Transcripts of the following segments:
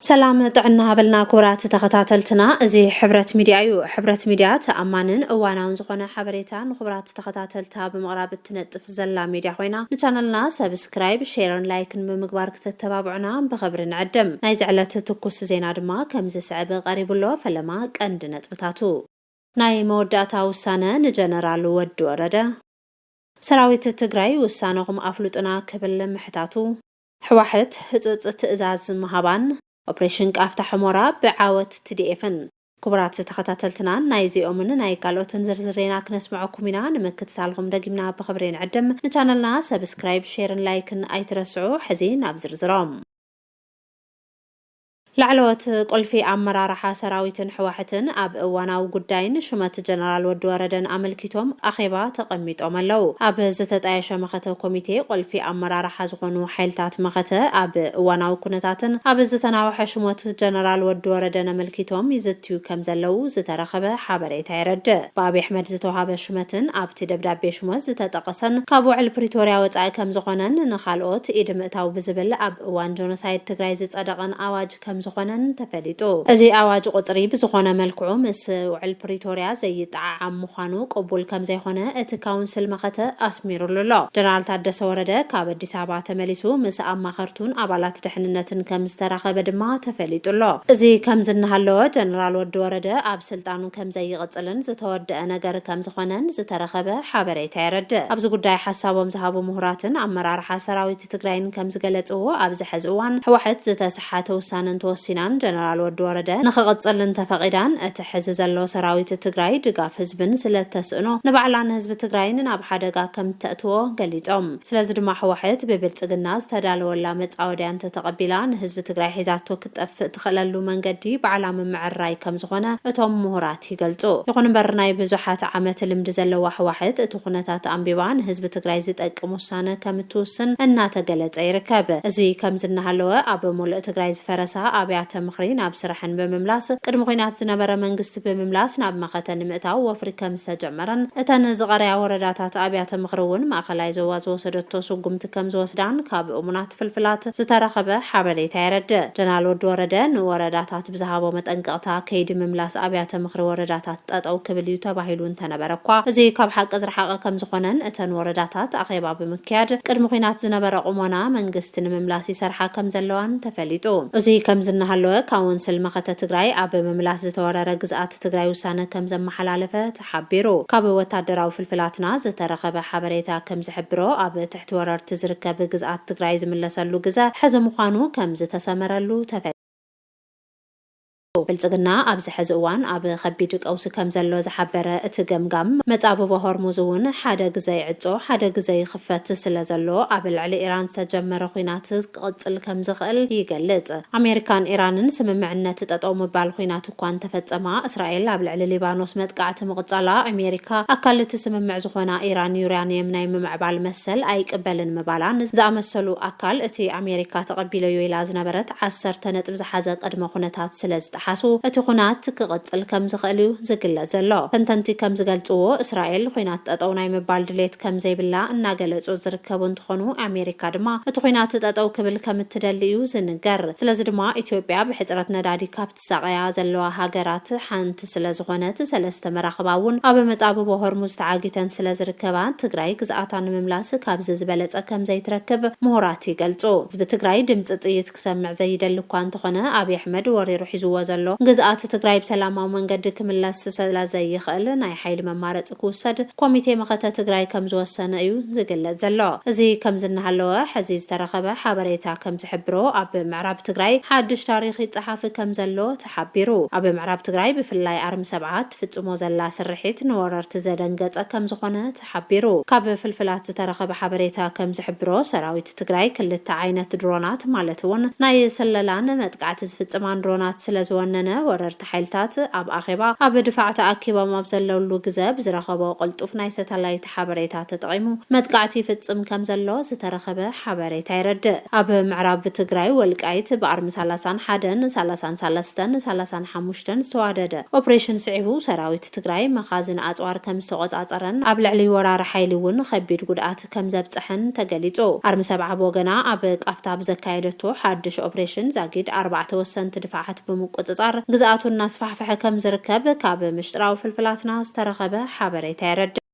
ሰላም ጥዕና ሃበልና ክቡራት ተኸታተልትና እዚ ሕብረት ሚድያ እዩ። ሕብረት ሚድያ ተኣማንን እዋናውን ዝኾነ ሓበሬታ ንኽቡራት ተኸታተልታ ብምቕራብ እትነጥፍ ዘላ ሚድያ ኾይና ንቻነልና ሰብስክራይብ፣ ሼርን ላይክን ብምግባር ክተተባብዑና ብኽብሪ ንዕድም። ናይዚ ዕለት ትኩስ ዜና ድማ ከምዝስዕብ ቐሪቡ ኣሎ፣ ፈለማ ቀንዲ ነጥብታቱ። ናይ መወዳእታ ውሳነ ንጀነራል ወዲ ወረደ። ሰራዊት ትግራይ ውሳነኹም ኣፍሉጡና ክብል ምሕታቱ። ሕዋሕት ህፁፅ ትእዛዝ ምሃባን ኦፕሬሽን ቃፍታ ሑሞራ ብዓወት ትዲኤፍን። ክቡራት ተኸታተልትና ናይዚኦምን ናይ ካልኦትን ዝርዝር ዜና ክነስመዐኩም ኢና ንምክትታልኹም ደጊምና ብኽብሪ ንዕድም ንቻነልና ሰብስክራይብ ሼርን ላይክን ኣይትረስዑ ሕዚ ናብ ዝርዝሮም ላዕለዎት ቁልፊ ኣመራርሓ ሰራዊትን ሕዋሕትን ኣብ እዋናዊ ጉዳይን ሹመት ጀነራል ወዲ ወረደን ኣመልኪቶም ኣኼባ ተቐሚጦም ኣለው። ኣብ ዝተጣየሸ መኸተ ኮሚቴ ቁልፊ ኣመራርሓ ዝኾኑ ሓይልታት መኸተ ኣብ እዋናዊ ኩነታትን ኣብ ዝተናወሐ ሹመት ጀነራል ወዲ ወረደን ኣመልኪቶም ይዝትዩ ከምዘለው ዝተረኸበ ሓበሬታ የረድእ። ብኣብይ ኣሕመድ ዝተውሃበ ሹመትን ኣብቲ ደብዳቤ ሹመት ዝተጠቐሰን ካብ ውዕል ፕሪቶርያ ወፃኢ ከምዝኾነን ንኻልኦት ኢድ ምእታው ብዝብል ኣብ እዋን ጆኖሳይድ ትግራይ ዝፀደቐን ኣዋጅ ከምዝኾነን ተፈሊጡ። እዚ ኣዋጅ ቁፅሪ ብዝኾነ መልክዑ ምስ ውዕል ፕሪቶሪያ ዘይጠዓዓም ምዃኑ ቅቡል ከምዘይኾነ እቲ ካውንስል መኸተ ኣስሚሩሉ ኣሎ። ጀነራል ታደሰ ወረደ ካብ ኣዲስ ኣበባ ተመሊሱ ምስ ኣማኸርቱን ኣባላት ደሕንነትን ከምዝተራኸበ ድማ ተፈሊጡ ኣሎ። እዚ ከምዚ እናሃለወ ጀነራል ወዲ ወረደ ኣብ ስልጣኑ ከምዘይቕፅልን ዝተወደኣ ነገር ከምዝኾነን ዝተረኸበ ሓበሬታ የረድእ። ኣብዚ ጉዳይ ሓሳቦም ዝሃቡ ምሁራትን ኣመራርሓ ሰራዊት። ሓይልታት ትግራይን ከምዝገለፅዎ ኣብዚ ሐዚ እዋን ህወሐት ዝተሰሓተ ውሳነ እንተወሲናን ጀነራል ወዲ ወረደ ንክቕፅል እንተፈቒዳን እቲ ሐዚ ዘሎ ሰራዊት ትግራይ ድጋፍ ህዝብን ስለእተስእኖ ንባዕላ ንህዝቢ ትግራይን ናብ ሓደጋ ከምተእትዎ ገሊፆም። ስለዚ ድማ ህወሐት ብብልፅግና ዝተዳለወላ መፃወድያ እንተተቐቢላ ንህዝቢ ትግራይ ሒዛቶ ክትጠፍእ ትኽእለሉ መንገዲ ባዕላ ምምዕርራይ ከም ዝኾነ እቶም ምሁራት ይገልፁ። ይኹን እምበር ናይ ብዙሓት ዓመት ልምዲ ዘለዋ ህዋሕት እቲ ኩነታት ኣንቢባ ንህዝቢ ትግራይ ዝጠቅም ውሳነ ከም እትውስን እናተገለፀ ይርከብ። እዙይ ከምዚ እናሃለወ ኣብ ሙልእ ትግራይ ዝፈረሳ ኣብያተ ምኽሪ ናብ ስረሐን ብምምላስ ቅድሚ ኹናት ዝነበረ መንግስቲ ብምምላስ ናብ መኸተ ንምእታው ወፍሪ ከም ዝተጀመረን እተን ዝቐረያ ወረዳታት ኣብያተ ምኽሪ እውን ማእኸላይ ዞባ ዝወሰደቶ ስጉምቲ ከም ዝወስዳን ካብ እሙናት ዝሓዙ ፍልፍላት ዝተረኸበ ሓበሬታ የረድእ። ጀነራል ወዲ ወረደ ንወረዳታት ብዝሃቦ መጠንቀቕታ ከይዲ ምምላስ ኣብያተ ምኽሪ ወረዳታት ጠጠው ክብል እዩ ተባሂሉ እንተነበረ እኳ እዚ ካብ ሓቂ ዝረሓቐ ከምዝኾነን እተን ወረዳታት ኣኼባ ብምክያድ ቅድሚ ኹናት ዝነበረ ቁሞና መንግስቲ ንምምላስ ይሰርሓ ከምዘለዋን ተፈሊጡ። እዙይ ከምዚ እናሃለወ ካውንስል መኸተ ትግራይ ኣብ ምምላስ ዝተወረረ ግዝኣት ትግራይ ውሳነ ከምዘመሓላለፈ ሓቢሩ። ካብ ወታደራዊ ፍልፍላትና ዝተረኸበ ሓበሬታ ከም ዝሕብሮ፣ ኣብ ትሕቲ ወረርቲ ዝርከብ ግዝኣት ትግራይ ዝምለሰሉ ግዘ ሕዚ ምዃኑ ከም ዝተሰመረሉ ተፈሊጡ። ብልፅግና ኣብዚ ሕዚ እዋን ኣብ ኸቢድ ቀውሲ ከም ዘሎ ዝሓበረ እቲ ገምጋም፣ መፃብቦ ሆርሙዝ እውን ሓደ ግዘ ይዕፆ ሓደ ግዘ ይኽፈት ስለ ዘሎ ኣብ ልዕሊ ኢራን ዝተጀመረ ኹናት ክቕጽል ከም ዝኽእል ይገልጽ። ኣሜሪካን ኢራንን ስምምዕነት ጠጠው ምባል ኹናት እኳ እንተፈጸማ፣ እስራኤል ኣብ ልዕሊ ሊባኖስ መጥቃዕቲ ምቕጻላ፣ ኣሜሪካ ኣካል እቲ ስምምዕ ዝኾና ኢራን ዩርያንየም ናይ ምምዕባል መሰል ኣይቅበልን ምባላን ዝኣመሰሉ ኣካል እቲ ኣሜሪካ ተቐቢለዮ ኢላ ዝነበረት ዓሰርተ ነጥቢ ዝሓዘ ቅድመ ኹነታት ስለ እንተጠሓሱ እቲ ኹናት ክቕጽል ከም ዝኽእል'ዩ ዝግለጽ ዘሎ። ተንተንቲ ከም ዝገልጽዎ፣ እስራኤል ኹናት ጠጠው ናይ ምባል ድሌት ከም ዘይብላ እናገለጹ ዝርከቡ እንትኾኑ፣ ኣሜሪካ ድማ እቲ ኹናት ጠጠው ክብል ከም እትደሊ'ዩ ዝንገር። ስለዚ ድማ ኢትዮጵያ ብሕጽረት ነዳዲ ካብ ትሳቐያ ዘለዋ ሃገራት ሓንቲ ስለ ዝኾነት ሰለስተ መራኽባ እውን ኣብ መጻብቦ ሆርሙዝ ተዓጊተን ስለ ዝርከባ ትግራይ ግዝኣታ ንምምላስ ካብዚ ዝበለጸ ከም ዘይትረክብ ምሁራት ይገልጹ። ህዝቢ ትግራይ ድምጺ ጥይት ክሰምዕ ዘይደሊ እኳ እንተኾነ ኣብይ ኣሕመድ ወሪሩ ሒዝዎ ዘሎ ግዝኣት ትግራይ ብሰላማዊ መንገዲ ክምለስ ሰለዘይኽእል ናይ ሓይሊ መማረፂ ክውሰድ ኮሚቴ መኸተ ትግራይ ከምዝወሰነ እዩ ዝግለፅ ዘሎ። እዚ ከምዚ እናሃለወ ሐዚ ዝተረኸበ ሓበሬታ ከምዝሕብሮ ኣብ ምዕራብ ትግራይ ሓዱሽ ታሪኽ ይፀሓፍ ከምዘሎ ተሓቢሩ። ኣብ ምዕራብ ትግራይ ብፍላይ ኣርሚ ሰብዓ እትፍፅሞ ዘላ ስርሒት ንወረርቲ ዘደንገፀ ከምዝኾነ ተሓቢሩ። ካብ ፍልፍላት ዝተረኸበ ሓበሬታ ከምዝሕብሮ ሰራዊት። ትግራይ ክልተ ዓይነት ድሮናት ማለት እውን ናይ ስለላን መጥቃዕቲ ዝፍፅማን ድሮናት ስለ ዝወነነ ወረርቲ ሓይልታት ኣብ ኣኼባ ኣብ ድፋዕ ተኣኪቦም ኣብ ዘለውሉ ግዘ ብዝረኸቦ ቅልጡፍ ናይ ሰታላይት ሓበሬታ ተጠቒሙ መጥቃዕቲ ይፍፅም ከም ዘሎ ዝተረኸበ ሓበሬታ የረድእ። ኣብ ምዕራብ ትግራይ ወልቃይት ብኣርሚ ሳላሳን ሓደን ሳላሳን ሳለስተን ሳላሳን ሓሙሽተን ዝተዋደደ ኦፕሬሽን ስዒቡ ሰራዊት ትግራይ መኻዝን ኣፅዋር ከም ዝተቖፃፀረን ኣብ ልዕሊ ወራሪ ሓይሊ እውን ኸቢድ ጉድኣት ጉድኣት ከምዘብፀሐን ተገሊፁ። ኣርሚ ሰብዓ ብወገና ኣብ ቃፍታ ብዘካየደቶ ሓዱሽ ኦፕሬሽን ዛጊድ ኣርባዕተ ወሰንቲ ድፋዓት ብምቁፅፃር ግዝኣቱ እናስፋሕፈሐ ከምዝርከብ ካብ ምሽጥራዊ ፍልፍላትና ዝተረኸበ ሓበሬታ የረድእ።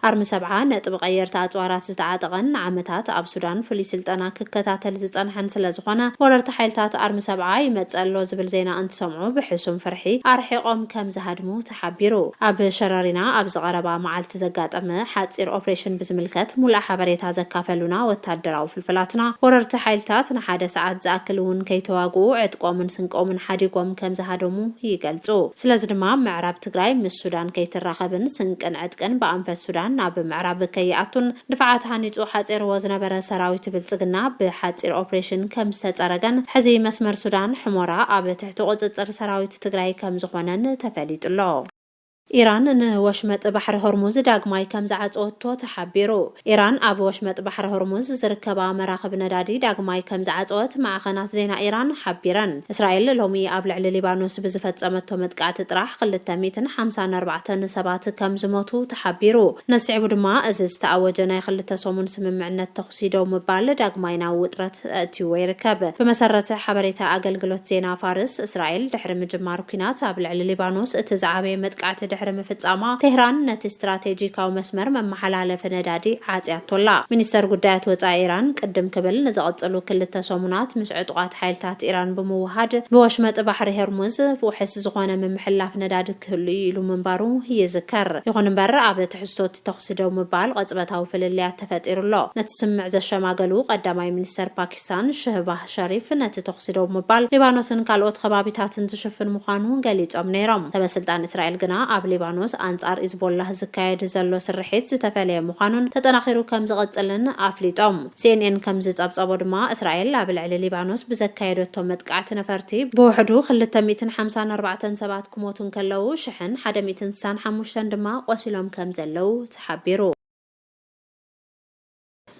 ኣርሚ ሰብዓ ነጥቢ ቀየርቲ ኣፅዋራት ዝተዓጠቐን ንዓመታት ኣብ ሱዳን ፍሉይ ስልጠና ክከታተል ዝፀንሐን ስለዝኾነ ወረርቲ ሓይልታት ኣርሚ ሰብዓ ይመፅእ ኣሎ ዝብል ዜና እንትሰምዑ ብሕሱም ፍርሒ ኣርሒቖም ከምዝሃድሙ ተሓቢሩ። ኣብ ሸረሪና ኣብዚ ቀረባ መዓልቲ ዘጋጠመ ሓጺር ኦፕሬሽን ብዝምልከት ሙሉኣ ሓበሬታ ዘካፈሉና ወታደራዊ ፍልፍላትና፣ ወረርቲ ሓይልታት ንሓደ ሰዓት ዝኣክል እውን ከይተዋግኡ ዕጥቆምን ስንቆምን ሓዲጎም ከምዝሃደሙ ይገልጹ። ስለዚ ድማ ምዕራብ ትግራይ ምስ ሱዳን ከይትራኸብን ስንቅን ዕጥቅን ብኣንፈት ሱዳን ናብ ምዕራብ ከይኣቱን ድፋዓት ሃኒጹ ሓጺርዎ ዝነበረ ሰራዊት ብልጽግና ብሓጺር ኦፕሬሽን ከምዝተጸረገን ሕዚ መስመር ሱዳን ሕሞራ ኣብ እቲ ቁፅፅር ሰራዊት ትግራይ ከምዝኾነን ተፈሊጡ'ሎ። ኢራን ንወሽመጥ ባሕሪ ሆርሙዝ ዳግማይ ከምዝዓፀወቶ ተሓቢሩ። ኢራን ኣብ ወሽመጥ ባሕሪ ሆርሙዝ ዝርከባ መራኽብ ነዳዲ ዳግማይ ከምዝዓፀወት ማዕኸናት ዜና ኢራን ሓቢረን። እስራኤል ሎሚ ኣብ ልዕሊ ሊባኖስ ብዝፈፀመቶ መጥቃዕቲ ጥራሕ ክልተ ሚእትን ሓምሳን ኣርባዕተን ሰባት ከምዝሞቱ ተሓቢሩ። ነዚ ስዒቡ ድማ እዚ ዝተኣወጀ ናይ ክልተ ሰሙን ስምምዕነት ደው ምባል ዳግማይ ናብ ውጥረት ኣእትይዎ ይርከብ። ብመሰረት ሓበሬታ ኣገልግሎት ዜና ፋርስ፣ እስራኤል ድሕሪ ምጅማር ኲናት ኣብ ልዕሊ ሊባኖስ እቲ ዝዓበየ መጥቃዕቲ ድሕሪ ምፍጻማ፣ ቴህራን ነቲ ስትራቴጂካዊ መስመር መመሓላለፊ ነዳዲ ዓጽያቶ ኣላ። ሚኒስተር ጉዳያት ወጻኢ ኢራን ቅድም ክብል ንዝቕጽሉ ክልተ ሰሙናት ምስ ዕጡቓት ሓይልታት ኢራን ብምውህሃድ ብወሽመጥ ባሕሪ ሄርሙዝ ውሕስ ዝኾነ ምምሕልላፍ ነዳዲ ክህሉ እዩ ኢሉ ምንባሩ ይዝከር። ይኹን እምበር ኣብ ትሕዝቶ'ቲ ተኹሲ ደው ምባል ቅጽበታዊ ፍልልያት ተፈጢሩ ኣሎ። ነቲ ስምምዕ ዘሸማገሉ ቀዳማይ ሚኒስተር ፓኪስታን ሸህባህ ሸሪፍ ነቲ ተኹሲ ደው ምባል ሊባኖስን ካልኦት ኸባቢታትን ዝሽፍን ምዃኑ ገሊጾም ነይሮም። ሰበስልጣን እስራኤል ግና ኣብ ሊባኖስ ኣንጻር ኢዝቦላህ ዝካየድ ዘሎ ስርሒት ዝተፈለየ ምዃኑን ተጠናኺሩ ከም ዝቕጽልን ኣፍሊጦም። ሲኤንኤን ከም ዝጸብጸቦ ድማ እስራኤል ኣብ ልዕሊ ሊባኖስ ብዘካየደቶ መጥቃዕቲ ነፈርቲ ብውሕዱ ክልተ ሚእትን ሓምሳን ኣርባዕተን ሰባት ክሞቱ እንከለዉ ሽሕን ሓደ ሚእትን ስሳን ሓሙሽተን ድማ ቆሲሎም ከም ዘለዉ ተሓቢሩ።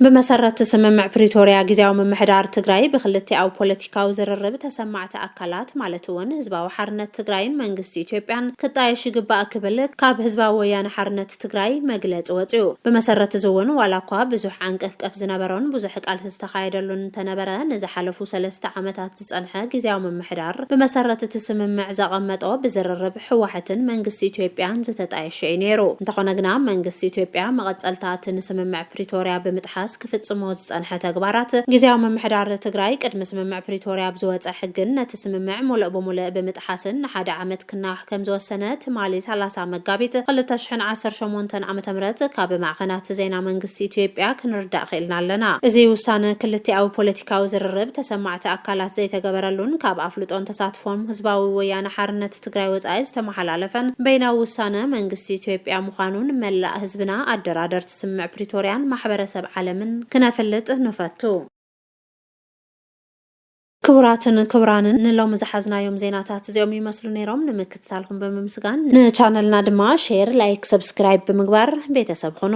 ብመሰረት ስምምዕ ፕሪቶርያ ግዜያዊ ምምሕዳር ትግራይ ብክልቲኣዊ ፖለቲካዊ ዝርርብ ተሰማዕቲ ኣካላት ማለት እውን ህዝባዊ ሓርነት ትግራይን መንግስቲ ኢትዮጵያን ክጣየሽ ይግባእ ክብል ካብ ህዝባዊ ወያነ ሓርነት ትግራይ መግለፂ ወፅኡ። ብመሰረት እዚ እውን ዋላ እኳ ብዙሕ ዓንቀፍቀፍ ዝነበሮን ብዙሕ ቃልሲ ዝተኻየደሉን እንተነበረ ንዝሓለፉ ሰለስተ ዓመታት ዝጸንሐ ግዝያዊ ምምሕዳር ብመሰረት እቲ ስምምዕ ዘቐመጦ ብዝርርብ ህወሐትን መንግስቲ ኢትዮጵያን ዝተጣየሸ እዩ ነይሩ። እንተኾነ ግና መንግስቲ ኢትዮጵያ መቐጸልታ እቲ ንስምምዕ ፕሪቶርያ ብምጥሓስ ክፍጽሞ ዝጸንሐ ተግባራት ግዝያዊ ምምሕዳር ትግራይ ቅድሚ ስምምዕ ፕሪቶርያ ብዝወጸ ሕግን ነቲ ስምምዕ ሙልእ ብሙልእ ብምጥሓስን ንሓደ ዓመት ክና ከምዝወሰነ ትማሊ ሰላሳ መጋቢት ክልተ ሽሕን ዓሰርተ ሸሞንተን ዓመተ ምህረት ካብ ማዕኸናት ዜና መንግስቲ ኢትዮጵያ ክንርዳእ ክኢልና ኣለና። እዚ ውሳነ ክልቲኣዊ ፖለቲካዊ ዝርርብ ተሰማዕቲ ኣካላት ዘይተገበረሉን ካብ ኣፍልጦን ተሳትፎን ህዝባዊ ወያነ ሓርነት ትግራይ ወፃኢ ዝተመሓላለፈን በይናዊ ውሳነ መንግስቲ ኢትዮጵያ ምዃኑ ንመላእ ህዝብና ኣደራደርቲ ስምምዕ ፕሪቶርያን ማሕበረሰብ ዓለምን ክነፍልጥ ንፈቱ። ክቡራትን ክቡራንን ንሎሚ ዝሓዝናዮም ዜናታት እዚኦም ይመስሉ ነይሮም። ንምክትታልኩም ብምምስጋን ንቻነልና ድማ ሼር፣ ላይክ፣ ሰብስክራይብ ብምግባር ቤተሰብ ኹኑ።